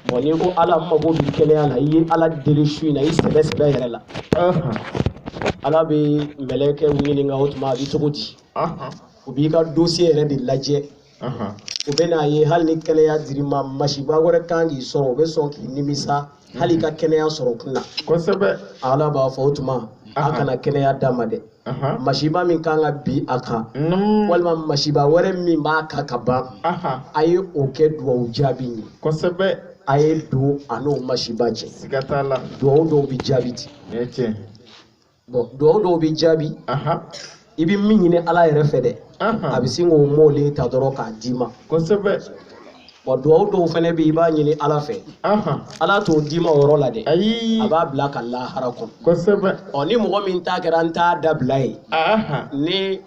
bɔn n'i ko ala mago bi kɛnɛya la i ye ala deli su in na i sɛbɛ sɛbɛ yɛrɛ la ala bɛ mɛlɛkɛ ɲininka o tuma a bɛ cogo di u b'i ka dosiye yɛrɛ de lajɛ u bɛ n'a ye hali ni kɛnɛya dir'i ma masiba wɛrɛ kan k'i sɔrɔ u bɛ sɔn k'i nimisa hali i ka kɛnɛya sɔrɔ kun na kosɛbɛ ala b'a fɔ o tuma a kana kɛnɛya d'a ma dɛ masiba min kan ka bin a kan walima masiba wɛrɛ min b'a kan ka ban a ye o kɛ dugawu jaabi ye kosɛbɛ a ye don a n'o masiba cɛ siga t'a la dugawu dɔw bɛ jaabi ten bɔn dugawu dɔw bɛ jaabi i bɛ min ɲini ala yɛrɛ fɛ dɛ a bɛ sin k'o mɔlen ta dɔrɔn k'a d'i ma kosɛbɛ bɔn duwawu dɔw fana bɛ yen i b'a ɲini ala fɛ Ahan. ala t'o d'i ma o yɔrɔ la dɛ Ayi. a b'a bila ka lahara kɔnɔ Kosɛbɛ. ɔ ni mɔgɔ min ta kɛra n t'a dabila ye Ahan. ni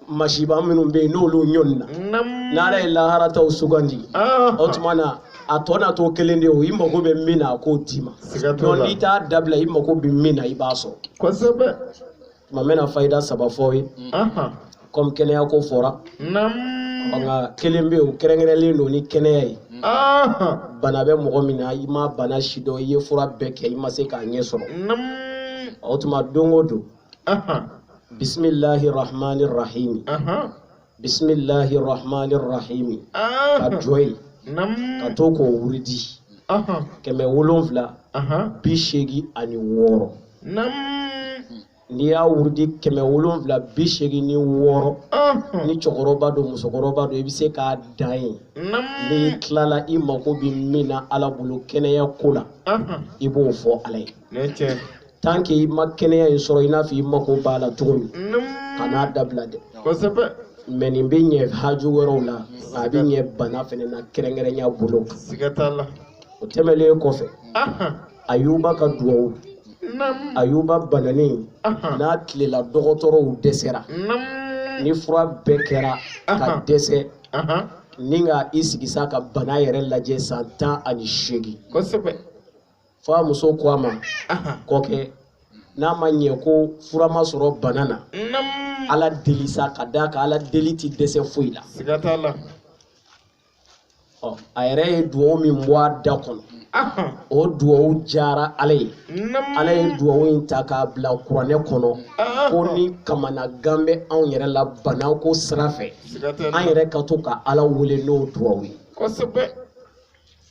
masiba minnu bɛ yen n'olu ɲɔnina Nam. n'ala ye lahara taw sugandi o Ahan. tuma na a tɔ na to kelen de ye o i mago bɛ min na a k'o d'i ma Siga t'o la. n'i t'a dabila i mago bɛ min na i b'a sɔrɔ Kosɛbɛ. tuma n bɛna fayida saba fɔ aw ye komi kɛnɛya ko fɔra nka kelen bɛ yen o kɛrɛnkɛrɛnlen don ni kɛnɛya ye bana bɛ mɔgɔ min na i ma bana si dɔn i ye fura bɛɛ kɛ i ma se k'a ɲɛ sɔrɔ o tuma don o don bisimilahi rahmani rahimi bisimilahi rahmani rahimi ka jɔ yen ka to k'o wuridi kɛmɛ wolonwula bi seegin ani wɔɔrɔ n'i y'a wurudi kɛmɛ wolonwula bi seegin ni wɔɔrɔ ni cɛkɔrɔba don musokɔrɔba don i bɛ se k'a dan yen n'i tilala i mako bɛ min na ala bolo kɛnɛya ko la i b'o fɔ ala ye. tant que i ma kɛnɛya in sɔrɔ i n'a fɔ i mako b'a la cogo min kan'a dabila dɛ mɛ nin bɛ ɲɛ haju wɛrɛw la a bɛ ɲɛ bana fana na kɛrɛnkɛrɛnya bolo kan o tɛmɛnlen kɔfɛ ayuba ka dugawu ayuba bananen n'a tilela dɔgɔtɔrɔw dɛsɛra ni fura bɛɛ kɛra ka dɛsɛ ni ka i sigi sa ka bana yɛrɛ lajɛ san tan ani seegin fo a muso ko a ma kɔkɛ n'a ma ɲɛ ko fura ma sɔrɔ bana na ala deli sa ka d'a kan ala deli tɛ dɛsɛ foyi la a yɛrɛ ye dugawu min bɔ a da kɔnɔ o dugawu diyara ala ye ala ye dugawu in ta k'a bila kuranɛ kɔnɔ ko ni kamanagan bɛ anw yɛrɛ la bana ko sira fɛ an yɛrɛ ka to ka ala wele n'o dugawu ye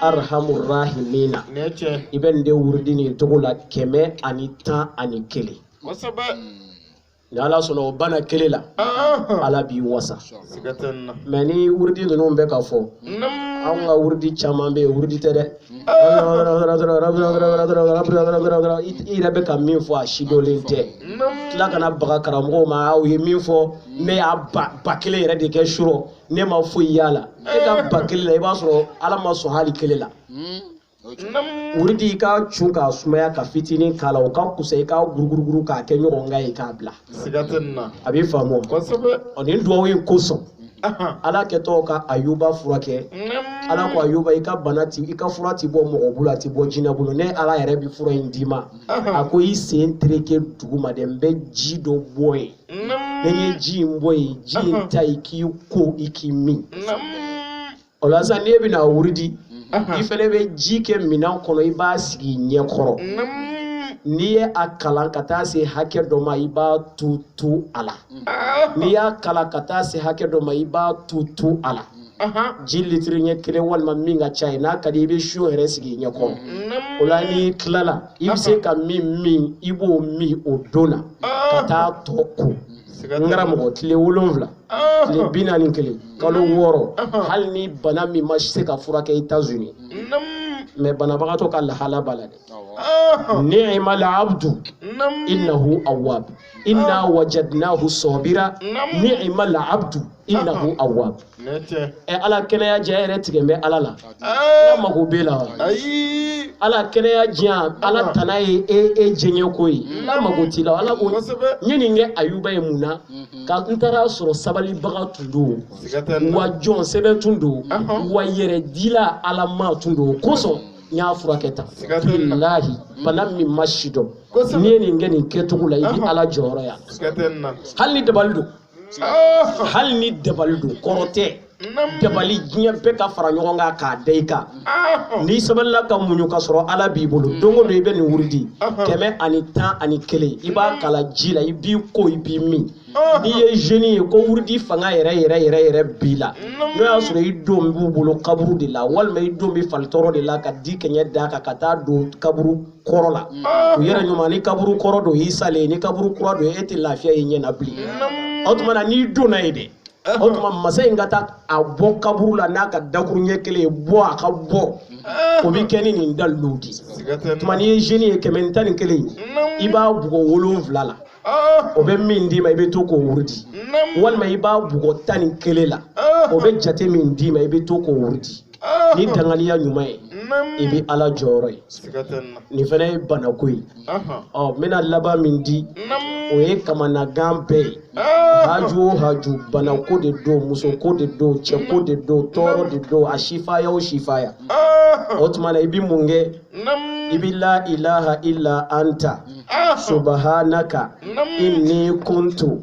arhamur rahimina i bɛ nin de wurudi nin cogo la kɛmɛ ani tan ani kelen ni ala sɔnna o bana kelen la ala b'i wasa mais ni wurudi ninnu bɛ ka fɔ anw ka wurudi caman bɛ yen wurudi tɛ dɛ i yɛrɛ bɛ ka min fɔ a sidɔnlen tɛ tila ka na baga karamɔgɔw ma aw ye min fɔ ne y'a ba kelen yɛrɛ de kɛ surɔ ne ma foyi y'a la e ka ba kelen la i b'a sɔrɔ ala ma sɔn hali kelen la wuridi i ka cu k'a sumaya ka fitinin k'a la o ka kusa i ka guruguruguru k'a kɛ ɲɔgɔn kan ye k'a bila a bɛ faamu ɔ nin duwawu in kosɔn ala kɛtɔ ka ayuba furakɛ ala ko ayuba i ka bana ti i ka fura ti bɔ mɔgɔ bolo a ti bɔ jinɛ bolo ne ala yɛrɛ bi fura in d'i ma a ko i sen tereke duguma dɛ n bɛ ji dɔ bɔ yen n'i ye ji in bɔ yen ji in ta i k'i ko i k'i min o la sisan n'e bɛna wuridi i fɛnɛ bɛ ji kɛ minɛn kɔnɔ i b'a sigi ɲɛ kɔrɔ n'i ye a kalan ka taa se hakɛ dɔ ma i b'a tu tu a la n'i y'a kalan ka taa se hakɛ dɔ ma i b'a tu tu a la. ji litiri ɲɛ kelen walima min ka ca ye n'a ka di i bɛ seau yɛrɛ sigi ɲɛ kɔrɔ o la n'i tilala i bɛ se ka min min i b'o min o don na ka taa tɔ ko n karamɔgɔ tile wolonwula tile bi naani kelen kalo wɔɔrɔ hali ni bana min ma se ka furakɛ États-Unis mais banabagatɔ ka lahala b'a la dɛ ni'ma la abdu innahu awwab inna wajadnahu sɔbira ni'ma la abdu innahu awwab ɛ ala kɛnɛya diya yɛrɛ tigɛ bɛ ala la ala mago bɛ la wa ala kɛnɛya diya ala tana ye e e jɛɲɛ ko ye ala mago t'i la ala ko n ye nin kɛ ayuba ye mun na mhm. ka n taara sɔrɔ sabalibaga tun don wa jɔn sɛbɛ tun don wa yɛrɛ dila ala ma tun don kosɔn n y'a furakɛ tan bilahi bana min ma si dɔn n'i ye nin kɛ nin kɛcogo la i bɛ ala jɔyɔrɔ ye hali ni dabali don hali ni dabali don kɔrɔtɛ dabali diɲɛ bɛɛ ka fara ɲɔgɔn kan k'a da i kan n'i sabalila ka muɲu ka sɔrɔ ala b'i bolo mm. don o don i bɛ nin wurudi kɛmɛ ani tan ani kelen i b'a mm. kalan ji la i b'i ko i b'i min n'i ye jeune ye ko wurudi fanga yɛrɛ yɛrɛ yɛrɛ yɛrɛ b'i la n'o y'a sɔrɔ i don b'u bolo kaburu de la walima i don bɛ falitɔrɔ de la ka dikɛɲɛ da a kan ka taa don kaburu kɔrɔ la u yɛrɛ ɲuman ni kaburu kɔrɔ don y'i salen ye ni kaburu kura don e tɛ lafiya y'i ɲɛ na bilen o tuma na n'i donna yen dɛ o tuma masa in ka taa a bɔ kaburu la n'a ka dakuruɲɛ kelen ye bɔ a ka bɔ o bɛ kɛ ni nin daliluw de ye o tuma n'i ye jeune ye kɛmɛ ni tan ni kelen ye i b'a bugɔ wolonwula la o bɛ min d'i ma i bɛ to k'o wurudi walima i b'a bugɔ tan ni kelen la o bɛ jate min d'i ma i bɛ to k'o wurudi Ah. ni danganiya ɲuman ye i bɛ ala jɔyɔrɔ ye nin fana ye banako ye ɔ n bɛna laban min di o ye kamanagan bɛɛ ye ah. haju o haju banako de don musoko de don cɛko de don tɔɔrɔ de don a sifaya o sifaya ah. o tuma na i bɛ mun kɛ i bɛ la ilaha illa anta subhanaka inni kuntu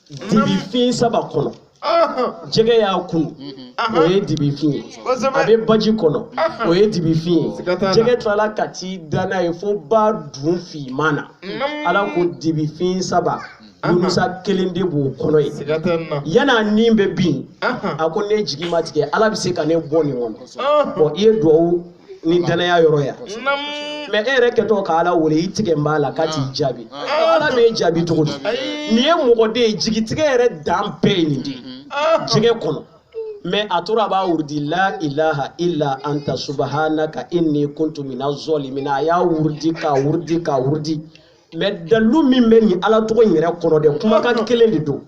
dibi fin saba kɔnɔ jɛgɛ y'a kunu o ye dibi fin ye a bɛ baji kɔnɔ o ye dibi fin ye jɛgɛ tilala ka t'i da n'a ye fo ba dun finman na ala ko dibi fin saba Yunusa kelen de b'o kɔnɔ ye yan'a nin bɛ bin a ko ne jigi ma tigɛ ala bɛ se ka ne bɔ nin kɔnɔ i ye dugawu ni danaya yɔrɔ ya mais e yɛrɛ kɛtɔ ka ala wele i tigɛn b'a la k'a t'i jaabi ala b'e jaabi cogo di nin ye mɔgɔ de ye jigitigɛ yɛrɛ dan bɛɛ ye nin de ye jɛgɛ kɔnɔ mais a tora a b'a wurudi la ilaha illa anta subhanaka inni kuntu mina zɔlimina a y'a wurudi k'a wurudi k'a wurudi mais dalilu min bɛ nin ala tɔgɔ in yɛrɛ kɔnɔ dɛ kumakan kelen de don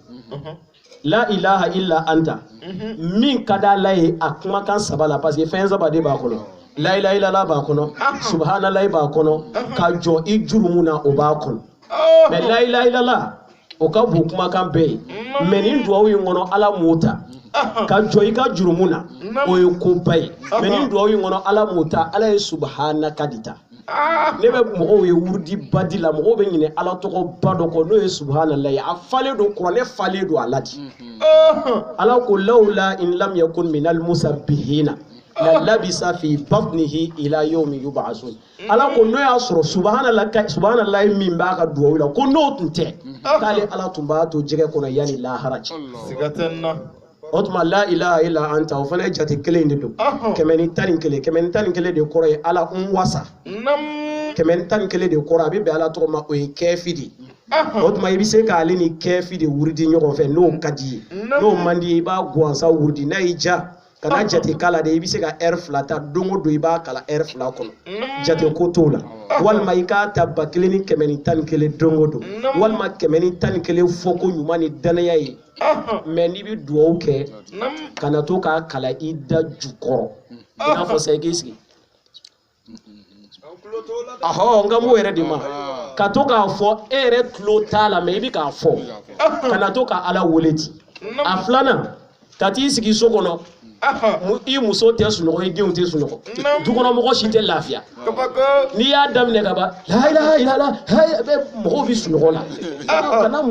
la ilaha illa anta mhm. min ka d'ala ye a kumakan saba la parce que fɛn saba de b'a kɔnɔ la ilaha illallah b'a kɔnɔ subhanallahi b'a kɔnɔ ka jɔ i jurumu na o b'a kɔnɔ oh. mais la ilaha illallah o ka bon kumakan bɛɛ ye mm. mais nin duwawu in kɔnɔ ala m'o ta ka jɔ i ka jurumu na o ye koba ye mais nin duwawu in kɔnɔ ala m'o ta ala ye subhanaka de ta Ah! ne bɛ mɔgɔw ye wurudi ba di la mɔgɔw bɛ ɲinɛ ala tɔgɔ ba dɔ kɔ n'o ye subhanallahi a falen don kuranɛ falen don a la dɛ ala ko lawla in lam yakun minal musabihina la labisa fi batnihi ila yawmi yub'asun ala ko n'o y'a sɔrɔ subhana subhanallahi min b'a ka duwawu la ko n'o tun tɛ k'ale ala tun b'a to jɛgɛ kɔnɔ yanni lahara cɛ siga tɛ n na o tuma la ilaha illa anta o fana ye jate kelen de don Ɔhɔn. kɛmɛ ni tan ni kelen kɛmɛ ni tan ni kelen de kɔrɔ ye ala n wasa nam kɛmɛ ni tan ni kelen de kɔrɔ a bɛ bɛn ala tɔgɔ ma o ye kɛfi de ye o ahɔn tuma i bɛ se k'ale ni kɛfi de wurudi ɲɔgɔn fɛ n'o ka d'i ye Namu. n'o man d'i ye i b'a gansan wurudi n'a y'i ja kana jate k'a la de i bɛ se ka ɛri fila ta don o don i b'a kalan ɛri fila kɔnɔ nam jate ko t'o la walima i k'a ta ba kelen ni kɛmɛ ni tan ni kelen don o don Namu. walima kɛmɛ ni tan ni kelen fɔ ko ɲuman ni dannaya ye mais n'i bɛ dugawu kɛ kana to k'a kalan i da jukɔrɔ i n'a fɔ sa i k'i sigi ahɔ n kan b'o yɛrɛ de ma ka to k'a fɔ e yɛrɛ tulo t'a la mais i bɛ k'a fɔ kana to ka ala wele ten a filanan ka t'i sigi so kɔnɔ i muso tɛ sunɔgɔ i denw tɛ sunɔgɔ dukɔnɔmɔgɔ si tɛ lafiya n'i y'a daminɛ ka ban la ilaha illallah mɔgɔw bɛ sunɔgɔ la kana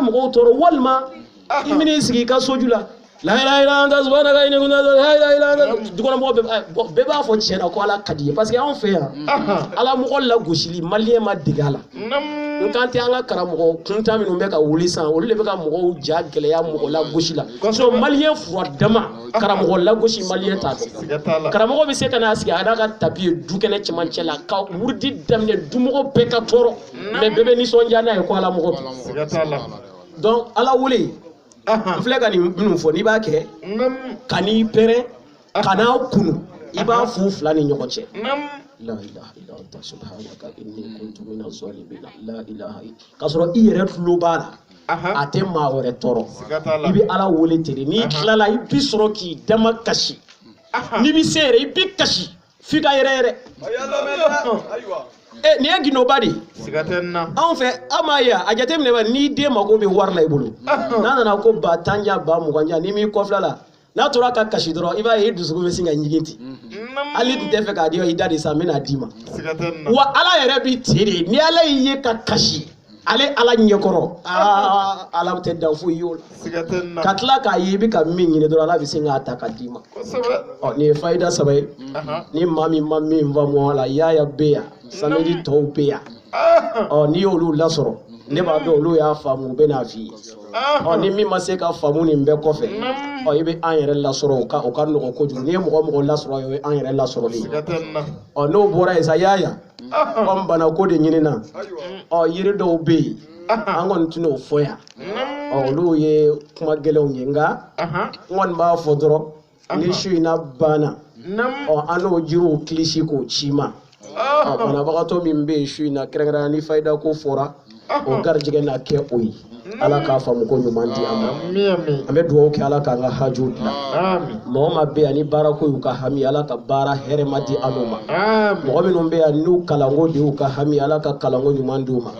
mɔgɔw tɔɔrɔ walima i bɛna i sigi i ka soju la dukɔnɔmɔgɔ bɛɛ b'a fɔ tiɲɛ na ko ala ka d'i ye parce que anw fɛ yan ala mɔgɔ lagosili maliyɛn ma dege a la n kan tɛ an ka karamɔgɔ kuntan minnu bɛ ka wuli san olu de bɛ ka mɔgɔw ja gɛlɛya mɔgɔ lagosi la so maliyɛn fura dama karamɔgɔ lagosi maliyɛn t'a dɔn karamɔgɔ bɛ se ka n'a sigi a n'a ka tapi ye du kɛnɛ cɛmancɛ la ka wurudi daminɛ dumɔgɔ bɛɛ ka tɔɔrɔ mais bɛɛ bɛ nisɔndiya n'a ye ko ala mɔgɔ bi donc ala wele n filɛ ka nin minnu fɔ n'i b'a kɛ kan'i pɛrɛn kan'a kunu i b'a fɔ fila ni ɲɔgɔn cɛ la ilaha illa anta subhanaka inni kuntu minaz zalimin la ilaha illa ka sɔrɔ i yɛrɛ tulo b'a la a tɛ maa wɛrɛ tɔɔrɔ i bɛ ala wele ten n'i tilala i bi sɔrɔ k'i dama kasi n'i bɛ se yɛrɛ i bɛ kasi f'i ka yɛrɛyɛrɛ Eh, nin ye gindoba de ye anw fɛ aw m'a ye a jateminɛ n'i den mako bɛ wari la i bolo n'a nana ko ba tan di yan ba mugan di yan n'i m'i kɔfil'a la n'a tora ka kasi dɔrɔn i b'a ye i dusukun bɛ sin ka jigin ten hal'i tun t'a fɛ k'a di i dade sa n bɛn'a d'i ma wa ala yɛrɛ bɛ ten de ni ala y'i ye ka kasi ale ala ɲɛkɔrɔ aa ala tɛ da foyi y'o la ka tila k'a ye i bɛ ka min ɲini dɔrɔn ala bɛ sin k'a ta ka d'i ma ɔ nin ye fayida saba ye ni maa min ma min faamu a la yaaya bɛ yan samedi tɔw bɛ yan ɔ n'i y'olu lasɔrɔ ne b'a dɔn olu y'a faamu u bɛn'a f'i ye ɔ ni min ma se ka faamu nin bɛɛ kɔfɛ ɔ i bɛ an yɛrɛ lasɔrɔ o ka o ka nɔgɔn kojugu n'i ye mɔgɔ o mɔgɔ lasɔrɔ o ye an yɛrɛ lasɔrɔli ye ɔ n'o bɔra yen sa yaaya kɔmi banako de ɲinina ɔ yiri dɔw bɛ yen an kɔni tɛna o fɔ yan ɔ olu ye kuma gɛlɛnw ye nka n kɔni b'a fɔ dɔrɔn ni su in na banna Namu. ɔ an n'o jiriw kilisi k'o c'i ma ɔ banabagatɔ min bɛ yen su in na kɛrɛnkɛrɛnnenya ni fayida ko fɔra o garijɛgɛ na kɛ o ye ala k'a faamuko ɲuman di an ma Ami ami. an bɛ dugawu kɛ ala k'an ka hajuw dilan Ami. mɔgɔ min bɛ yan ni baarako y'u ka hami ala ka baara hɛrɛma di anu ma Ami. mɔgɔ minnu bɛ yan n'u kalanko de y'u ka hami ala ka kalanko ɲuman di u ma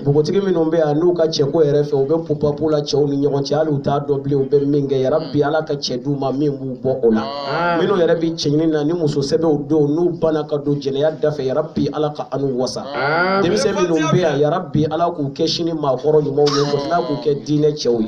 npogotigi minnu bɛ yan n'u ka cɛko yɛrɛ fɛ u bɛ pupapu la cɛw ni ɲɔgɔn cɛ hali u t'a dɔn bilen u bɛ min kɛ yarabi ala ka cɛ d'u ma min b'u bɔ o la minnu yɛrɛ bɛ cɛɲini na ni muso sɛbɛnw don n'u banna ka don jɛnɛya da fɛ yarabi ala ka anu wasa denmisɛn minnu bɛ yan yarabi ala k'u kɛ sini maakɔrɔ ɲumanw ye ka tila k'u kɛ diinɛ cɛw ye